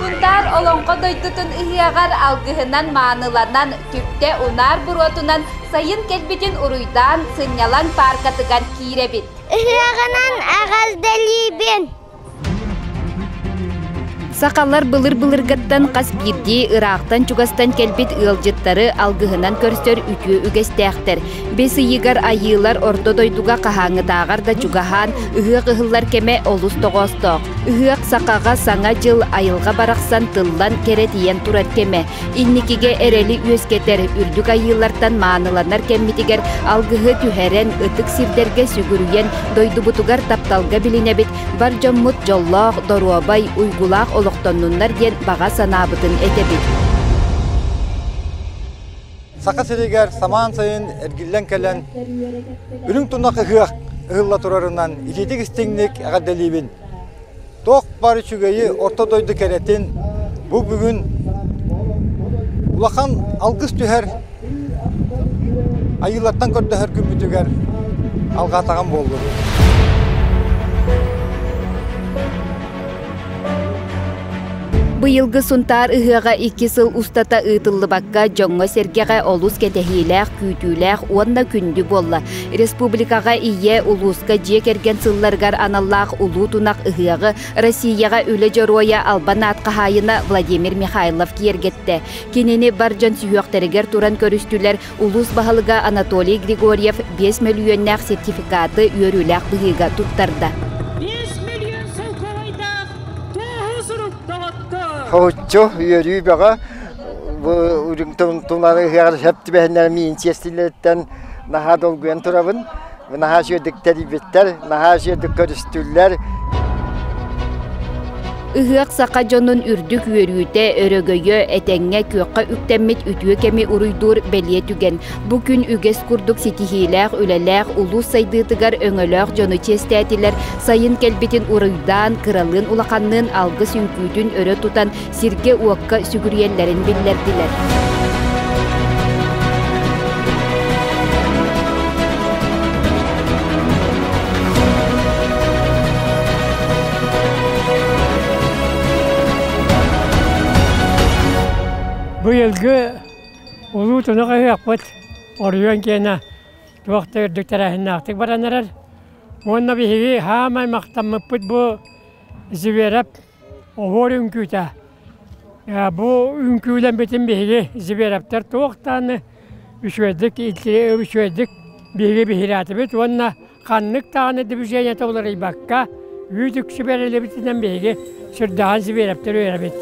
Кунтаар Олоҥхо дойдутун ыһыаҕар алгыһынан, мааныланан, түптэ унаар буруотунан сайын кэлбитин уруйдаан, сынньалаҥ пааркатыгар киирэбит. Ыһыаҕынан эҕэрдэлиибин! Сахалар былыр-былыргаттан хас биирдии ыраахтан-чугастан кэлбит ыалдьыттары алгыһынан көрсөр үтүө үгэстээхтэр. Бэс ыйыгар айыылар орто дойдуга хаһааҥҥытааҕар да чугаһаан, ыһыах ыһыллар кэмэ олус тоҕоостоох. Ыһыах сахаҕа Саҥа дьыл айылҕа барахсан тыллан кэрэ тиийэн турар кэмэ. Инникигэ эрэли үөскэтэр, үрдүк айыылартан мааныланар кэммитигэр алгыһы түһэрэн, ытык сирдэргэ сүгүрүйэн, дойдубутугар тапталга билинэбит, бар дьоммут дьоллоох, доруобай, уйгулаах олохтоннуннар диэн баҕа санаабытын этэбит. Саха сиригэр самаан сайын эргиллэн кэлэн, үрүҥ тунах ыһыах ыһылла турарынан итиитик-истиҥник эҕэрдэлиибин! Туох баар үчүгэйи орто дойду кэрэтин бу бүгүн улахан алгыс түһэр Айыылартан көрдөһөр күммүтүгэр алҕаатаҕым буоллун! Быйылгы Сунтаар ыһыаҕа икки сыл устата ыытыллыбакка дьоҥҥо-сэргэҕэ олус кэтэһиилээх, күүтүүлээх уонна күндү буолла. Республикаҕа ийэ, улууска дьиэ кэргэн сылларыгар аналлаах Улуу тунах ыһыаҕы Россияҕа Үлэ Дьоруойа албан аат хаһаайына Владимир Михайлов киэргэттэ. Кинини бар дьон сүһүөхтэригэр туран көрүстүлэр Улуус баһылыга Анатолий Григорьев биэс мөлүйүөннээх сертификаты үөрүүлээх быһыыга туттарда. Биэс мөлүйүөн солкуобайдаах туоһу сурук доҕоттор! Хауччу үөрүү бөҕө бу үрүҥ тумнары ыһыаҕар сөп түбэһиннэр миин сиэстиллэриттэн наһаа долгуйан турабын. наһаа үчүгэйдик тэрийбиттэр, наһаа үчүгэйдик көрүстүллэр. Ыһыах саха дьонун үрдүк үөрүүтэ, өрөгөйө, этэҥҥэ, күөххэ үктэммит үтүө кэми уруйдуур бэлиэ түгэн. Бу күн үгэс курдук ситиһиилээх, үлэлээх, улуус сайдыытыгар өҥөлөөх дьону чиэстээтилэр, сайын кэлбитин уруйдаан, кыралыын улаханныын алгыс үҥкүүтүн өрө тутан, сиргэ-уокка сүгүрүйэллэрин биллэрдилэр Быйылгы улуу тунах ыһыахпыт оройуон киэнэ туох да үрдүк тэрээһиннээхтик баран эрэр уонна биһиги хаамай махтаммыппыт бу Зверев Оһуор үҥкүүтэ. Бу үҥкүүлэммитин биһиги Зверевтэр туох дааны үчүгэйдик үчүгэйдик биһиги биһирээтибит уонна ханнык дааны движениета уларыйбакка үүт үксү бэриллибитинэн биһиги сырдаҕан Зверевтэр үөрэбит.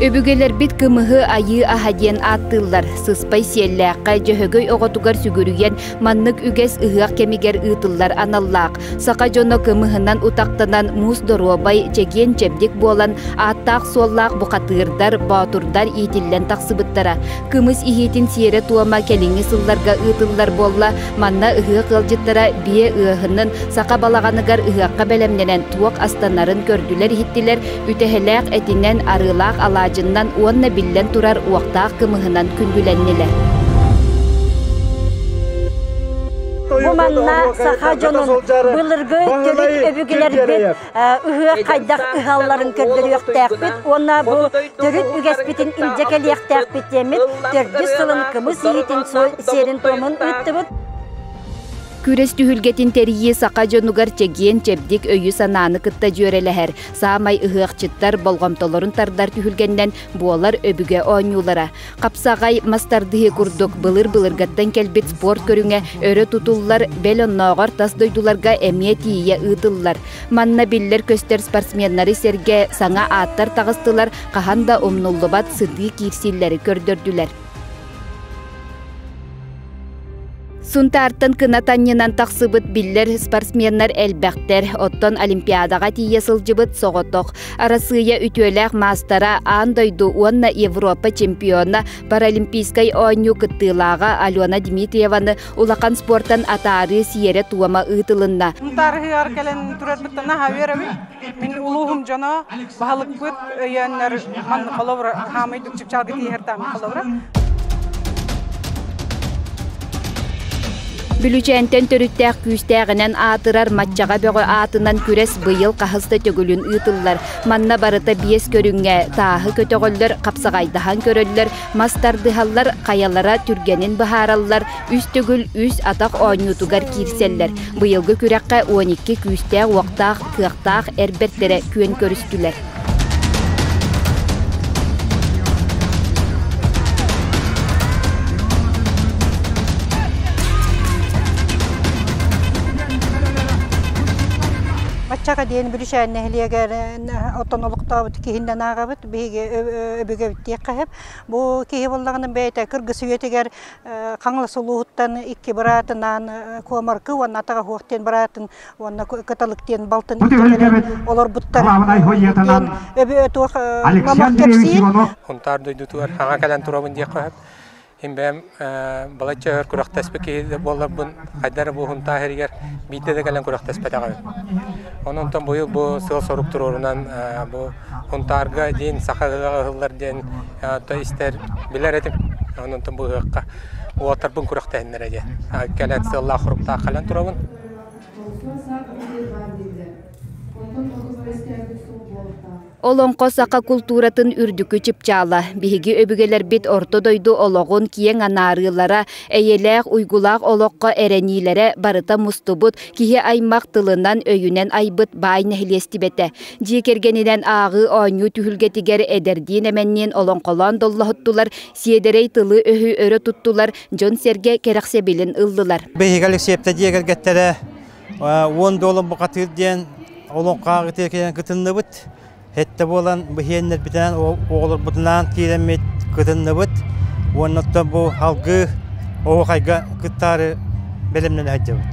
Өбүгэлэрбит кымыһы айыы аһа диэн ааттыыллар. Сыспай Сиэллээххэ Дьөһөгөй оҕотугар сүгүрүйэн маннык үгэс ыһыах кэмигэр ыытыллар аналлаах. Саха дьоно кымыһынан утахтанан муус доруобай, чэгиэн чэбдик буолан ааттаах-суоллаах бухатыырдар, боотурдар иитиллэн тахсыбыттара. Кымыс иһиитин сиэрэ-туома кэлиҥҥи сылларга ыытыллар буолла. Манна ыһыах ыалдьыттара биэ ыаһынын саха балаҕаныгар ыһыахха бэлэмнэнэн туох астанарын көрдүлэр-иһиттилэр, Үтэһэлээх этинэн, арыылаах алаадьыннан уонна биллэн турар уохтаах кымыһынан күндүлэннилэр. Бу манна саха дьонун былыргы төрүт өбүгэлэрбит ыһыах хайдах ыһалларын көрдөрүөхтээхпит уонна бу төрүт үгэспитин илдьэ кэлиэхтээхпит диэммит төрдүс сылын кымыс иһитин сиэрин-туомун ыыттыбыт. Күрэс түһүлгэтин тэрийии саха дьонугар чэгиэн, чэбдик өйү-санааны кытта дьүөрэлэһэр. Саамай ыһыахчыттар болҕомтолорун тардар түһүлгэннэн буолар өбүгэ оонньуулара. Хапсаҕай мастардыһыы курдук былыр-былыргаттан кэлбит спорт көрүҥэ өрө тутуллар, бэл оннооҕор тас дойдуларга эмиэ тиийэ ыытыллар. Манна биллэр-көстөр спортсменнары сэргэ саҥа ааттар таҕыстылар, хаһан да умнуллубат сытыы киирсиилэри көрдөрдүлэр. Сунтаартан кынатанньынан тахсыбыт биллэр спортсменнар элбэхтэр. Оттон Олимпиадаҕа тиийэ сылдьыбыт соҕотох. Арассыыйа үтүөлээх маастара аан дойду уонна Европа чемпиона, Паралимпийскай оонньуу кыттыылааҕа Алена Дмитриеваны улахан спортан атаарыы сиэрэ-туома ыытылынна. Сунтаар ыһыаҕар кэлэн төрөөтбүттэн наһаа үөрэбин. Мин улууһум дьоно баһылыкпыт өйөөннөр маннык холобура хаамыйдык чыпчаалга тииһэр таамы холобура. Бүлүчээнтэн төрүттээх күүстээҕинэн аатырар маччаҕа бөҕө аатынан күрэс быйыл хас да төгүлүн ыытыллар. Манна барыта биэс көрүҥҥэ тааһы көтөҕөллөр, хапсаҕайдаһан көрөллөр, мас тардыһаллар, хайалара түргэнин быһаараллар, Үс төгүл үс атах оонньуутугар киирсэллэр. Быйылгы күрэххэ уон икки күүстээх-уохтаах, кыахтаах эр бэртэрэ күөн көрүстүлэр. Баччаҕа диэн Бүрүшээн нэһилиэгэ оттон олохтообут киһиннэн ааҕабыт. Биһиги өбүгэбит диэххэ бу киһи буллаҕына бэйэтэ кыргыс үйэтигэр Хаҥалас улууһуттан икки быраатынаан Куомаркы уонна Атаҕаһуох диэн быраатын уонна Кыталык диэн балтын олорбуттар. диэн өбүө туох мамах кэпсиир. Хунтаар дойдутугар хаҥа кэлэн туробун диэх қоһып. Имбэм балачча өр күрөхтэспит киһи буолларбын хайдар бу хунтаа херигер биитте да кэлен күрөхтэспетаҕын. Онон тон бу сыал сорук туруорунан бу Унтаарга диин саха ыһыаҕа ыһыллар диэн то истэр, билэр этим. Онтон быһыахха уолтарбын күрэхтэһиннэрэ диэн. Кэлэн сыаллаах-хоруктаах кэлэн турабын. Олоҥхо саха култууратын үрдүкү чыпчаала. Биһиги өбүгэлэрбит орто дойду олоҕун киэҥ анаарыылара, эйэлээх, уйгулаах олоххо эрэниилэрэ барыта мустубут, киһи аймах тылынан, өйүнэн айбыт баай нэһилиэстибэтэ. Дьиэ кэргэнинэн ааҕыы оонньуу түһүлгэтигэр эдэрдиин-эмэнниин олоҥхолоон доллоһуттулар, сиэдэрэй тылы-өһү өрө туттулар, дьон-сэргэ кэрэхсэбилин ыллылар. Биһиги Алексеевтар дьиэ кэргэттэрэ уон доллар бухатыыр диэн олоҥхоҕа ытыакынан кытынныбыт. Хэттэ буолан биһиэннэрбитинэн оҕолорбутунаан киирэммит кытынныбыт уонна оттон бу алгыы оһуохайга кыттаары бэлэмнэнэ сылдьабыт.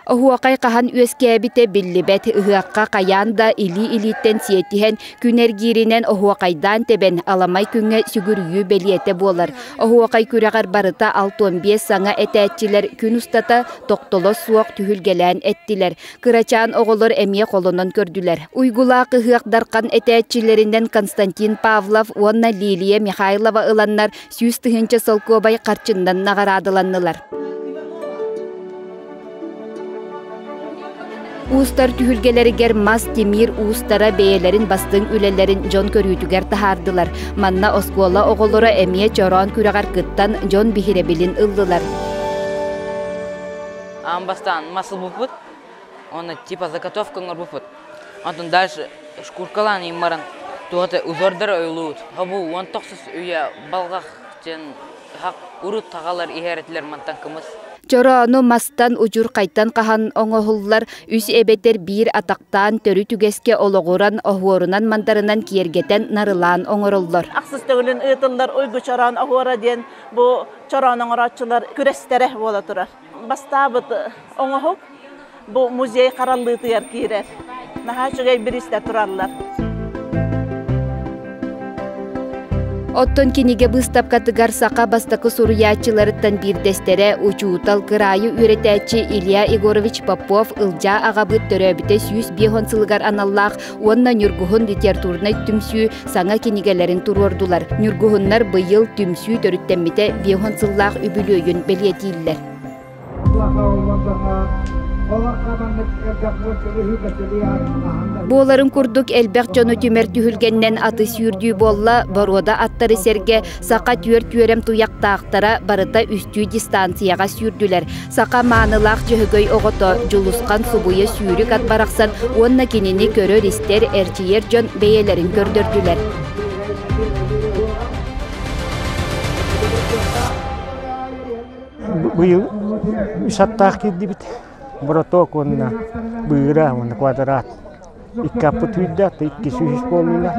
Оһуохай хаһан үөскээбитэ биллибэт. Ыһыахха хайаан да илии-илииттэн сиэтиһэн, күн эргииринэн оһуохайдаан тэбэн, аламай күҥҥэ сүгүрүйүү бэлиэтэ буолар. Оһуохай күрэҕэр барыта алт-уон биэс саҥа этээччилэр күн устата тохтоло суох түһүлгэлээн эттилэр. Кырачаан оҕолор эмиэ холонон көрдүлэр. Уйгулаах ыһыах дархан этээччилэринэн Константин Павлов уонна Лилия Михайлова ыланнар сүүс тыһыынча солкуобай харчыннан наҕараадаланнылар. Уустар түһүлгэлэригэр мас, тимир уустара бэйэлэрин бастыҥ үлэлэрин дьон көрүүтүгэр таһаардылар. Манна оскуола оҕолоро эмиэ чороон күрэҕэр кыттан дьон биһирэбилин ыллылар. Аан бастаан мас ылбыппыт, уонна типа заготовка оҥорбуппут. Онтон дальше шкуркалаан иин баран туохата узордары ойуулуубут хобуу уон тохсус үйэ балҕах диэн хак урут хаҕалар иһэр этилэр мантан кымыс Чороону мастан удьурхайтан хаһан оҥоһуллар үс эбэтэр биир атахтаан төрүт үгэскэ олоҕуран оһуорунан-мандарынан киэргэтэн нарылаан оҥороллор. Ахсыс төгүлүн ыытыллар Уйгу чороон оһуора диэн бу чороон оҥорооччулар күрэстэрэ буола турар. бастаабыт оҥоһук бу музей хараллыытыгар киирэр. Наһаа үчүгэй бириистэр тураллар. Оттон кинигэ быыстапкатыгар саха бастакы суруйааччыларыттан биирдэстэрэ учуутал кыраайы үөрэтээччи Илья Егорович Попов Ылдьаа аҕабыт төрөөбүтэ сүүс биэс уон сылыгар аналлаах уонна Ньургуһун литературнай түмсүү саҥа кинигэлэрин туруордулар. Ньургуһуннар быйыл түмсүү төрүттэммитэ биэһон сыллаах үбүлүөйүн бэлиэтииллэр. Буоларын курдук элбэх дьону түмэр түһүлгэннэн аты сүүрдүү буолла, боруода аттары сэргэ Саха түөрт үөрэм туйахтаахтара барыта үстүү дистанцияҕа сүүрдүлэр. Саха маанылаах Дьөһөгөй оҕото Дьулусхан субуйа сүүрүк ат барахсан уонна кинини көрөр-истэр, эрчийэр дьон бэйэлэрин көрдөрдүлэр. Быйыл үс аттаах киирдибит. Браток уонна быыра уонна квадрат. Икки аппыт үүрдээх да икки сүүс буоллулар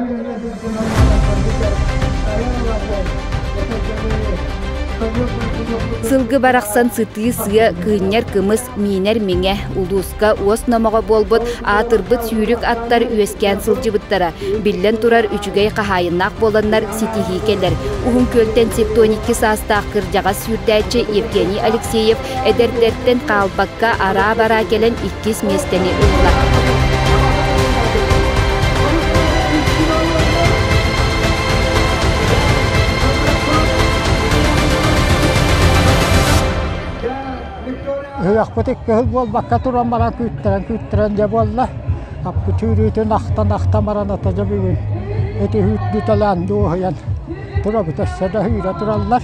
Сылгы барахсан сытыы сыа, кыынньар кымыс, миинэр миҥэ, улууска уос номоҕо буолбут аатырбыт сүүрүк аттар үөскээн сылдьыбыттара. Биллэн турар, үчүгэй хаһаайыннаах буоланнар ситиһии кэлэр. Уһун Күөлтэн сиптоникки саастаах кырдьаҕас сүүрдээччи Евгений Алексеев Эдэрдэртэн хаалбакка араа-бараа кэлэн иккис миэстэни ылла. Ыһыахпыт икки ыһык буолбакка туран баран күүттэрэн-күүттэрэн дьэ буолла. Аппы түүрүүтүн ахтан-ахтан баран атажа бүгүн ити үүт бүтэлээн дуоһуйан турабыт өссө да ыһыыра тураллар.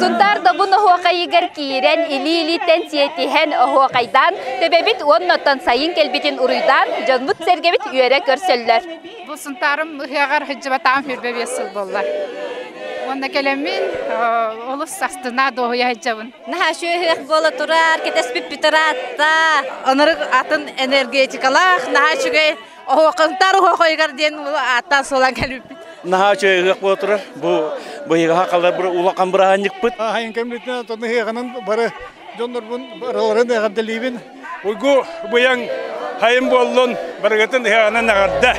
Сунтаар Добун оһуохайыгар киирэн, илии-илииттэн сиэтиһэн, оһуохайдаан, төбөбүт уонна оттон сайын кэлбитин уруйдаан, дьонбут-сэргэбит үөрэ көрсөллөр. Бу Сунтаарым ыһыаҕар сылы буолла. Уонна кэлэммин олус састына дуоһуйа сылдьабын. Наһаа үчүгэй ыһыах буола турар, кэтэспит бүтэр аатта. Онору атын энергетикалаах, наһаа үчүгэй Оһоқыздар оһоқойгар диэн ааттан сылан кэлбиппит. Наһаа үчүгэй ыһыах буола турар. Бу быйыгаһа халар улахан быраанньыкпыт. Аһайын кэммитинэн атаныһыаханан бары дьоннорбун барыларын эҕэрдэлиибин. Уйгу быйаҥ хайым буоллун барыгытын ыһыаҕынан эҕэрдэ.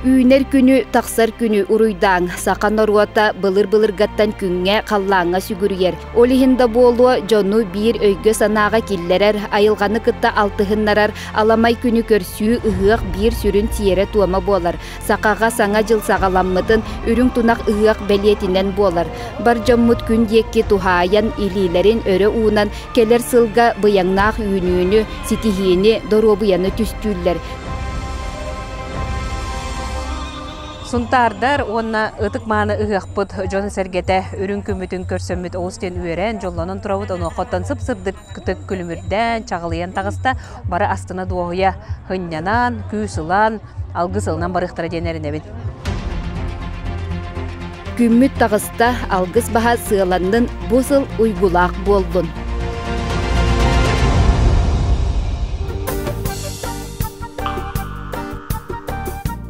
Үүнэр күнү, тахсар күнү уруйдааҥ. Саха норуота былыр-былыргаттан күҥҥэ, халлааҥҥа сүгүрүйэр. Ол иһин да буолуо, дьону биир өйгө-санааҕа киллэрэр, айылҕаны кытта алтыһыннарар, аламай күнү көрсүү ыһыах биир сүрүн сиэрэ-туома буолар. Сахаҕа Саҥа дьыл саҕаламмытын Үрүҥ тунах ыһыах бэлиэтинэн буолар. Бар дьоммут күн диэки туһаайан, илиилэрин өрө уунан, кэлэр сылга быйаҥнаах үүнүүнү, ситиһиини, доруобуйаны түстүүллэр. Сунтаардар уонна ытык-мааны ыһыахпыт дьон-сэргэтэ үрүҥ күммүтүн көрсөммүт олус диэн үөрэн, дьоллонон турабыт, онуоххаттан сып-сырдыктык күлүмүрдээн, чаҕылыйан таҕыста, бары астына-дуоһуйа һынньанан, күүс ылан, алгыс ылынан барыахтара диэн эрэнэбин. Күммүт таҕыста, алгыс баһа сыаланнын, бу сыл уйгулаах буоллун.